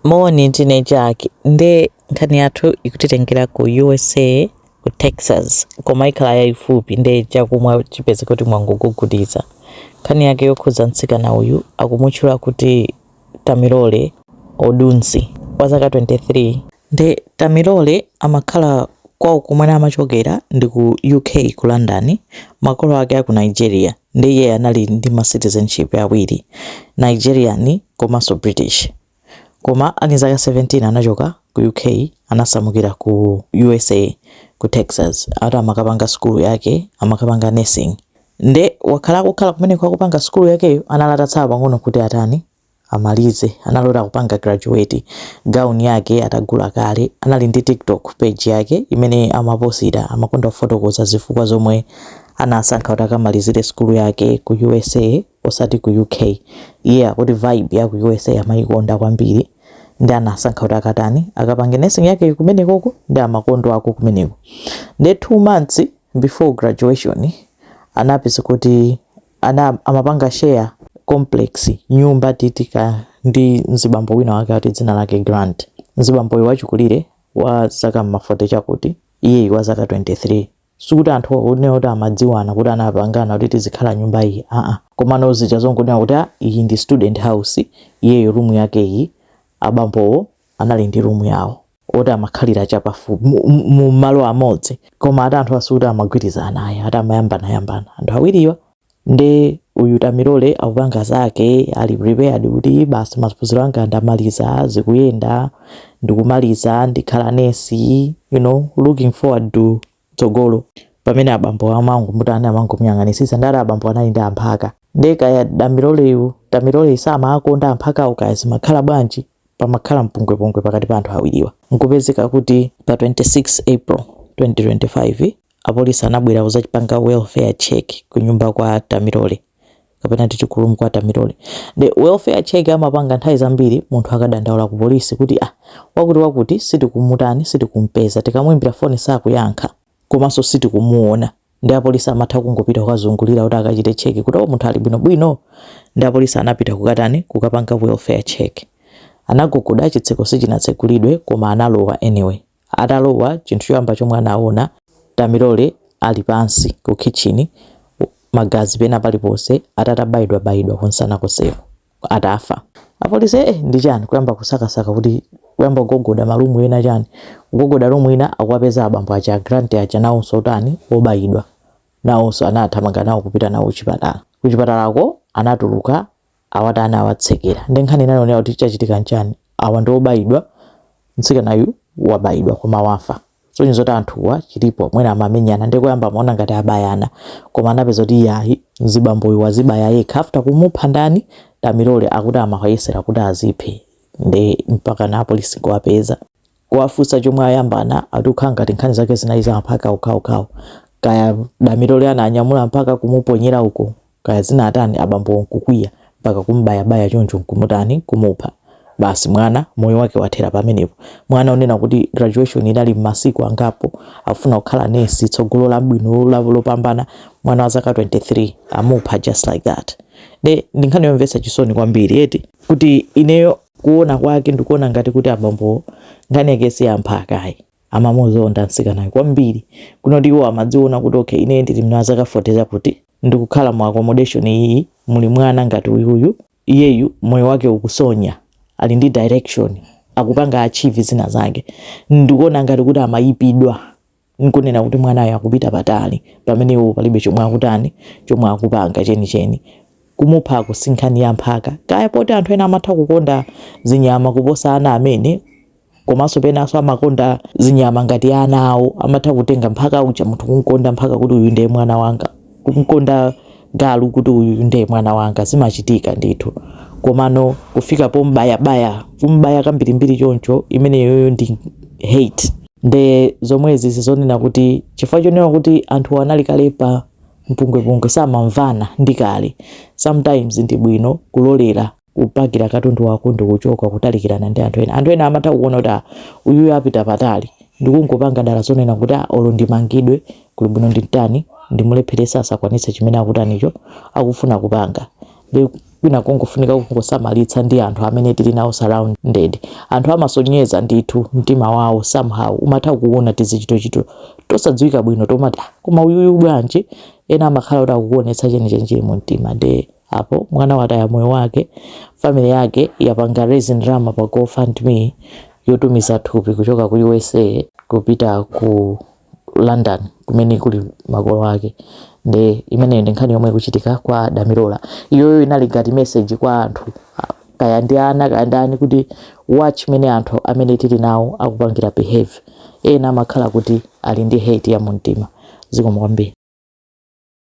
Moni ndine Jack nde nkhani yathu ikutitengera ku usa ku texas koma ikhala yayifupi nde chakumwa chipeze kuti mwangogugudiza nkhani yake yokhudza mtsikana uyu akumutchula kuti tamilole odunsi wa zaka 23 nde Tamilole amakhala kwawo kumene amachokera ndi ku uk ku london makolo ake aku nigeria nde iyeyo anali ndi ma citizenship awiri Nigerian komanso British koma ali ndi zaka 17 anachoka ku UK anasamukira ku usa ku Texas ati amakapanga sukulu yake amakapanga nursing nde wakhala akukhala kumeneko akupanga sukulu yakeyo analatatsala pang'ono kuti atani amalize anali oti akupanga graduate gown yake atagula kale anali ndi tiktok page yake imene amaposita amakonda kufotokoza zifukwa zomwe anasankha kuti akamalizire sukulu yake ku usa osati ku uk iye akuti vibe ya ku usa amayikonda kwambiri nde anasankha kuti akatani akapange nursing yake kumenekoko nde amakondako kumeneko nde two months before graduation anapeza kuti amapanga share complex nyumba titi kaya ndi mzibambo wina wake ati dzina lake Grant mzibamboyo wachikulire wa zaka mma 40 chakuti iyeyi wa zaka 23 sikuti anthuwo nde kuti amadziwana kuti anapangana kuti tizikhala nyumba iyi aa komano zija zongonena kuti "Ah, iyi ndi student house iyeyu rumu yake iyi abambowo anali ndi rumu yawo oti amakhalira chapafupi mu- mu- mu malo amodzi koma ati anthuwa sikuti amagwirizana ayi ati amayambanayambana anthu awiriwa nde uyu tamilole akupanga zake ali prepared kuti basi maphunziro anga ndamaliza zikuyenda ndikumaliza ndikhala nesi you know looking forward to tsogolo pamene abambo amangomutani amangomuyang'anisisa nde ati abambo anali ndi amphaka nde kaya Tamiloleyu tamilole samawakonda amphakawo kaya zimakhala bwanji pamakhala mpungwepungwe pakati pa anthu awiriwa nkupezeka kuti pa 26 April 2025 apolisi anabwera kuzachita panga welfare check kunyumba kwa tamilole. kapena titi ku room kwa Tamilole the welfare check amapanga nthawi zambiri munthu akadandaula ku polisi kuti ah wakuti wakuti sitikumutani sitikumpeza tikamuimbira foni sakuyankha komanso sitikumuona nde apolisi amatha kungopita kukazungulira kuti akachite cheki kuti o oh, munthu ali bwinobwino nde apolisi anapita kukatani kukapanga welfare check anagogoda chitseko sichinatsegulidwe koma analowa anyway Atalowa, chinthu choyamba chomwe anaona, Tamilole ali pansi ku khitchini, magazi pena paliponse, atatabayidwabayidwa kunsana konseko, atafa. Apolisi, eh, ndi chani, kuyamba kusakasaka kuti, kuyamba kugogoda ma room ena chani, kugogoda room ina akuwapeza abambo aja a Grant aja nawonso otani, obayidwa, nawonso anathamanga nawo kupita nawo kuchipatala. Kuchipatalako anatuluka awatani awatsekera nde nkhani inali yonena kuti chachitika nchani awa ndi obayidwa mtsikanayu wabayidwa koma wafa zosonyeza zoti anthuwa chilipo mwina amamenyana nde kuyamba amaona ngati abayana koma anapeza kuti iyayi mzibamboyu wazibaya yekha after kumupha ndani Damilola akuti amayesera kuti aziphe nde mpaka na apolisi kuwapeza kuwafunsa chomwe ayambana akuti kaya ngati nkhani zake zinali za amphaka okhaokhawo kaya Damilola ananyamula mpaka kumuponyera uko kaya zinatani abambo nkukwiya mpaka kumbayabaya choncho nkumutani kumupha basi mwana moyo wake wathera pamenepo mwana wonena kuti graduation inali m'masiku angapo amafuna kukhala nesi tsogolo labwino la- lopambana mwana wa zaka 23 amupha just like that nde ndi nkhani yomvetsa chisoni kwambiri eti kuti ineyo Kuona kwake ndikuona ngati kuti abambowo nkhani yake si yamphaka ayi. Amamuzonda mtsikanayo kwambiri. Kunena kuti iwo amadziona kuti okay ineyo ndili ndi zaka 40 zakuti, ndikukhala mu accommodation iyi muli mwana ngati uyuyu, iyeyu moyo wake ukusonyeza, ali ndi direction, akupanga achieve zina zake. Ndikuona ngati kuti amayipidwa. n'kunena kuti mwanayo akupita patali pamene iwo palibe chomwe akutani chomwe akupanga chenicheni kumuphako si nkhani ya mphaka kaya poti anthu ena amatha kukonda zinyama kuposa ana amene komanso penanso amakonda zinyama ngati ana awo amatha kutenga mphaka uja munthu kukonda mphaka kuti uyu ndiye mwana wanga kumkonda galu kuti uyu nde mwana wanga zimachitika ndithu komano kufika pombayabaya kumbaya kambirimbiri choncho imeneyoyo ndi hate nde zomwezi ndi zonena kuti chifukwa chonena kuti anthu anali kale pa mpungwepungwe samamvana ndi kale sometimes ndi bwino kulolera kupakira katundu wako ndikuchoka kutalikirana ndi anthu ena anthu ena amatha kuona kuti ah, uyuyu apita patali ndikungopanga dala zonena kuti ah, olo ndimangidwe kuli bwino ndimutani ndimulepheretse asakwanitse chimene akutanicho akufuna kupanga nde kwina kungofunika kungosamalitsa ndi anthu amene tili nawo surrounded anthu amasonyeza ndithu mtima wawo somehow umatha kuona tizichitochito tosadziwika bwino tomati ah, koma uyuyu bwanji ena amakhala kuti akukuonetsa chenicheni chili mu mtima nde Apo mwana wataya moyo wake, family yake yapanga raise ndalama pa go fund me yotumiza thupi kuchoka ku usa kupita ku London kumene kuli makolo ake nde imeneyo ndi nkhani yomwe ikuchitika kwa Damilola. Iyoyo inali ngati message kwa anthu ah, kaya ndi ana kaya ndani kuti watch mene anthu amene tili nawo akupangira behave. Ena amakhala kuti ali ndi hate ya mumtima. Zikomo kwambiri.